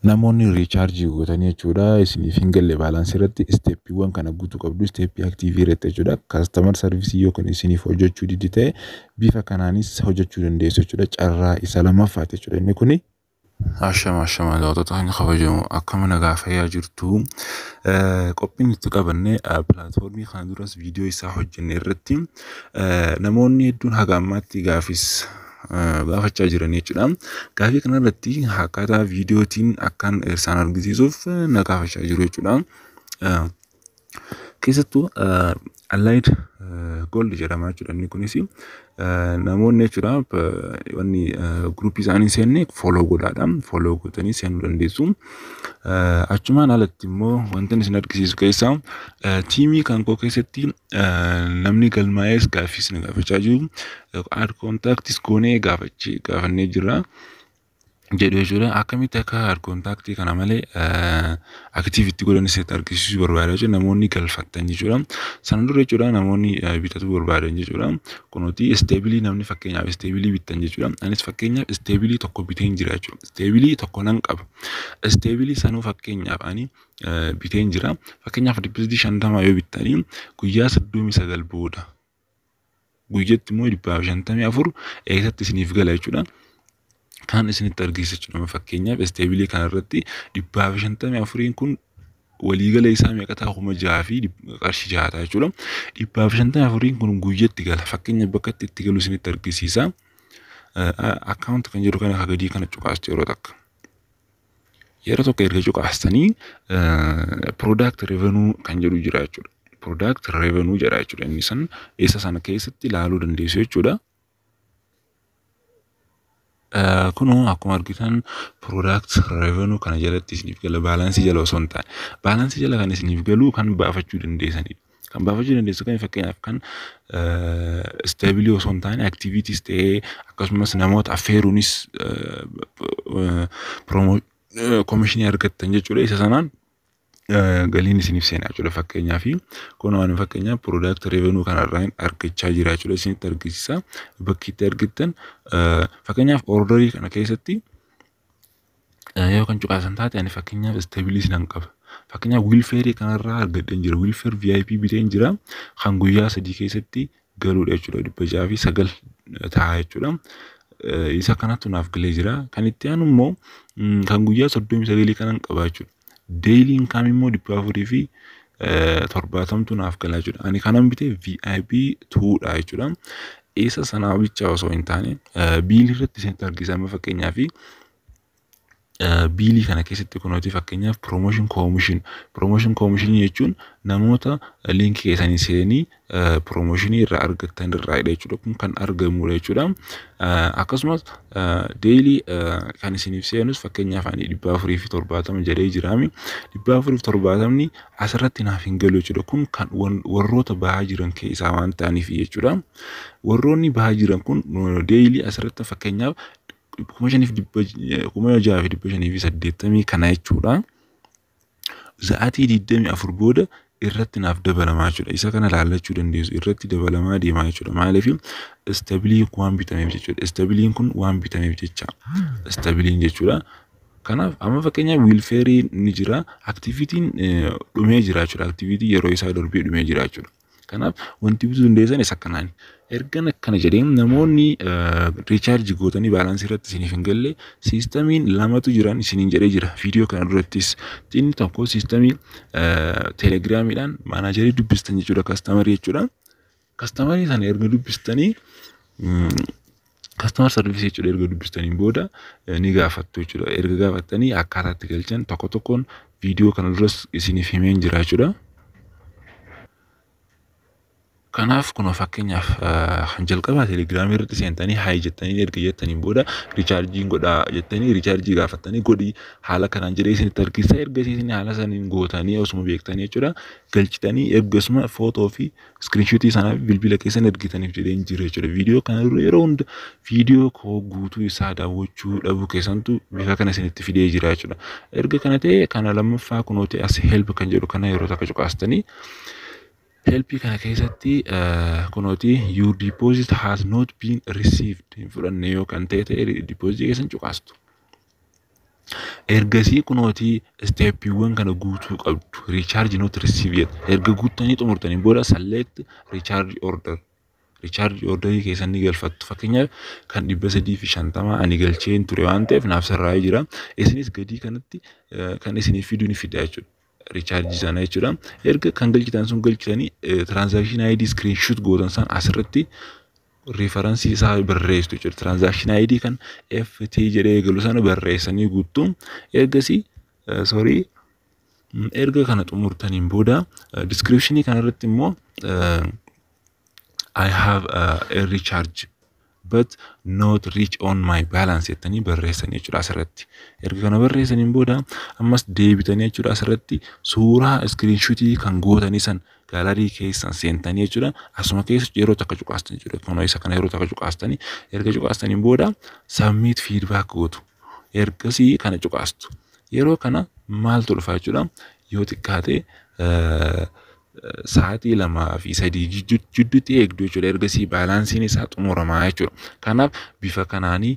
Namoonni riichaarjii gootanii jechuudha isiniif hin galle baalaansii irratti isteeppiiwwan kana guutuu qabdu isteeppii aktiivii irratti jechuudha kaastamar sarvisii yookiin isiniif hojjechuu diddi ta'e bifa kanaanis hojjechuu dandeessu jechuudha carraa isa lammaffaati jechuudha inni kuni. Ashama ashama daawwattoota keenya kabajamu akkama nagaa fayyaa jirtu qophiin itti qabanne pilaatfoormii kana duras viidiyoo isaa hojjenne irratti namoonni hedduun haga ammaatti gaafis baafachaa jiran jechuudha. Gaafii kanarratti akkaataa viidiyootiin akkan isaan argisiisuuf na gaafachaa jiru jechuudha. Keessattuu Allied Gold jedhama jechuudha inni kunis namoonni jechuudha wanni guruupii isaanii seenne fooloo godhaadha. Fooloo gootanii seenuu dandeessu. Achumaan alatti immoo wantan isin argisiisu keessaa tiimii kan koo keessatti Namni galmaa'ees gaaffiis na gaafachaa jiru. Aad kontaaktis goonee gaafachii gaafannee jirra. jedhu jechuudha. Akkamitti akka aad kontaaktii kana malee akitiif itti godhan isinitti argisiisuu barbaada jechuudha. Namoonni galfattan jechuudha. Sana dura jechuudha namoonni eh, bitachuu barbaadan jechuudha. Kunuuti isteebilii namni fakkeenyaaf isteebilii bittan jechuudha. Anis fakkeenyaaf isteebilii tokko biteen jira jechuudha. Isteebilii tokko nan qaba. Isteebilii sanuu fakkeenyaaf ani biteen jira. Fakkeenyaaf dippiziti shantama yoo bittanii guyyaa soddomii sagal booda guyyatti immoo dhibbaaf shantamii afur eessatti isiniif gala jechuudha. Kan isinitti argisiisa jechuudha. Fakkeenyaaf isteebilii kanarratti dhibbaaf shantamii afuriin kun waliigala isaa meeqa ta'a kuma jaha fi qarshii jaha ta'a jechuudha. Dhibbaaf shantamii afuriin kun guyyatti gala. Fakkeenyaaf bakka itti itti galu isinitti argisiisa. Akkaawunti kan jedhu kana akka gadii kana cuqaastee yeroo takka. Yeroo tokko erga cuqaastanii product revenue kan jedhu jira jechuudha. Product revenue jedha jechuudha. Inni san isa sana keessatti ilaaluu dandeessu jechuudha. Kunoo akkuma argitan product revenue kana jalatti isiniif gala baalaansii jala osoo hin taane baalaansii jala kan isiniif galu kan baafachuu dandeessanidha. Kan baafachuu dandeessu kan fakkeenyaaf kan isteebilii osoo hin taane aktiviitiis ta'ee akkasumas namoota affeeruunis koomishinii argattan jechuudha. Isa sanaan galiin isiniif seenaa jechuudha fakkeenyaa fi kun waan fakkeenyaa piroodaaktii reevenuu kanarraa argachaa jira jechuudha isinitti argisiisa bakki itti argittan fakkeenyaaf ordarii kana keessatti Yoo kan cuqaasan taate ani fakkeenyaaf isteebilii sinan qaba. Fakkeenyaaf wiilfeerii kanarraa argadheen jira. Wiilfeer VIP biteen jira. Kan guyyaa sadii keessatti galuudha jechuudha. Dhibba jaha fi sagal ta'a jechuudha. Isa kanatu naaf galee jira. Kan itti aanu immoo kan guyyaa soddomii sagalii kanan qaba jechuudha. Daily income immoo dhibba afurii fi torbaatamtu naaf gala jechuudha. Ani kanan bite VIP 2 dha jechuudha. Isa sanaa bicha osoo hin taane biilii irratti isinitti argisiisama fakkeenyaa fi biilii kana keessatti kunooti fakkeenyaaf promotion commission promotion commission jechuun namoota liinkii keessanii seenii piroomooshinii irraa argattan irraadha jechuudha. Kun kan argamudha jechuudha. Akkasumas deelii kan isiniif seenus fakkeenyaaf ani dhibba afurii fi torbaatama jedhee jiraami. Dhibba afurii fi torbaatamni asirratti naaf hin galu jechuudha. Kun kan warroota bahaa jiran keessaa waan ta'aniif jechuudha. Warroonni bahaa jiran kun deelii asirratti fakkeenyaaf kuma shaniif dhibba kuma jaha fi dhibba shanii fi saddeettamii kana jechuudha. Sa'aatii 24 booda irratti naaf dabalamaa jechuudha. Isa kana laallachuu dandeessu. Irratti dabalamaa deemaa jechuudha. Maaliif istabilii waan bitameef jechuudha. Istabiliin kun waan bitameef jecha. Istabiliin jechuudha. Kanaaf amma fakkeenyaaf wiilfeerii ni jira. Aktivitiin dhumee jira jechuudha. Aktivitii yeroo isaa darbee dhumee jira jechuudha. Kanaaf wanti bituu dandeessan isa kanaan. Ergan akkana jedhee namoonni riichaarji gootanii baalaansii irratti isiniif hin galle siistamiin lamatu jiran isiniin jedhee jira. Viidiyoo kana durattis inni tokko siistamii telegiraamiidhaan maanaajarii dubbistan jechuudha kastamarii jechuudha. Kastamarii sana erga dubbistanii Customer service jechuudha erga dubbistaniin booda eh, ni gaafattu jechuudha. Erga gaafattanii akkaataa itti galchan tokko tokkoon viidiyoo kana duras isiniif himeen jira jechuudha. Kanaaf kun fakkeenyaaf ah, kan jalqabaa telegiraamii irratti seentanii haay jettanii erga jettaniin booda richaarjiin godhaa jettanii richaarjii gaafattanii godhi haala kanaan jedhee isinitti argisiisa erga isin haala saniin gootanii osuma beektanii jechuudha galchitanii ergasuma footoo fi Iskiriinshotii sana bilbila keessan ergitaniif jedheen jira jechuudha. Viidiyoo kana dura yeroo hunda viidiyoo koo guutuu isaa daawwachuu dhabuu keessantu bifa kana isinitti fidee jira jechuudha. Erga kana ta'e kana lammaffaa kunooti as help kan jedhu kana yeroo takka cuqaastanii helpii kana keessatti kunooti your deposit has not been received hin fudhanne yoo kan ta'e ta'e deposit keessan cuqaastu. Ergasii kunootii isteeppiiwwan kana guutuu qabdu. Recharge not receive yet. Erga guuttanii xumurtanii booda select recharge order. Recharge order keessan ni galfattu. Fakkeenyaaf kan dhibba sadii fi shantama ani galcheen ture waan ta'eef naaf sirraa'ee jira. Isinis gadii kanatti kan isiniif fidu ni fida jechuudha. richaarjii sana jechuudha. Erga kan galchitan sun galchitanii tiraansaakshinii ID iskiriinshuut gootan san asirratti riifaransii isaa barreessitu jechuudha. Tiraansaakshinii ID kan FT jedhee eegalu sana barreessanii guuttu. Ergasii soorii erga kana xumurtaniin booda diskiriipshinii kanarratti immoo I have a recharge but not reach on my balance jettanii barreessanii jechuudha asirratti. Erga kana barreessaniin booda ammas deebitanii jechuudha asirratti suuraa iskiriinshuutii kan gootanii san gaalarii keessan seentanii jechuudha asuma keessa yeroo takka cuqaastan jechuudha kunoo isa kana yeroo takka cuqaastanii erga cuqaastaniin booda submit feedback gootu ergasii kana cuqaastu yeroo kana maaltu dhufa jechuudha yoo xiqqaate eh, sa'aatii lamaa fi sadii jidduutti eegdu jechuudha. Ergasii baalaansiin isaa xumuramaa jechuudha. Kanaaf bifa kanaanii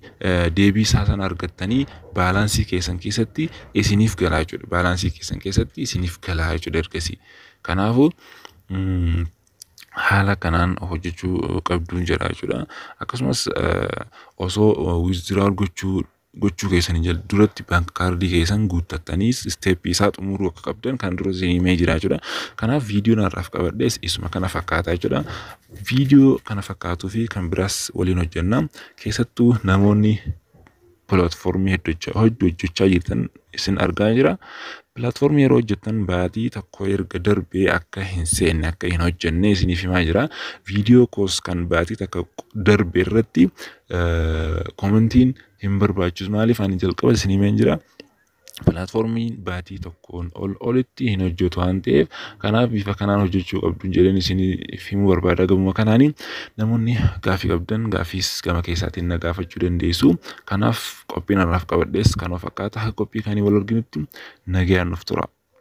deebii isaa sana argattanii baalaansii keessan keessatti isiniif galaa jechuudha. Baalaansii keessan keessatti isiniif galaa jechuudha ergasii. Kanaafuu haala kanaan hojjechuu qabduun jedha jechuudha. Akkasumas osoo wizdiraa gochuu gochuu keessanii jal duratti bank kaardii keessan guuttattanii step isaa xumuruu akka qabdan kan dura isin himee jira jechuudha. Kanaaf viidiyoon har'aaf qabadhes isuma kana fakkaata jechuudha. Viidiyoo kana fakkaatuu fi kan biraas waliin hojjenna. Keessattuu namoonni pilaatfoormii hedduu hojjechaa jirtan isin argaa jira. Pilaatfoormii yeroo hojjettan baatii tokko erga darbee akka hin seenne akka hin hojjenne isiniif himaa jira. Viidiyoo koos kan baatii takka darbe irratti Komentiin hin barbaachisu maaliif ani jalqaba isin himeen jira. Pilaatfoormiin baatii tokkoon ol olitti hin hojjetu waan ta'eef kanaaf bifa kanaan hojjechuu qabdu jedheen isiniif himuu barbaada gamuma kanaani namoonni gaafii qabdan gaafiis gama keessaatiin na gaafachuu dandeessu kanaaf qophiin har'aaf qabadhees kanuma fakkaata qophii kaanii wal arginutti nagayaan nuuf tura.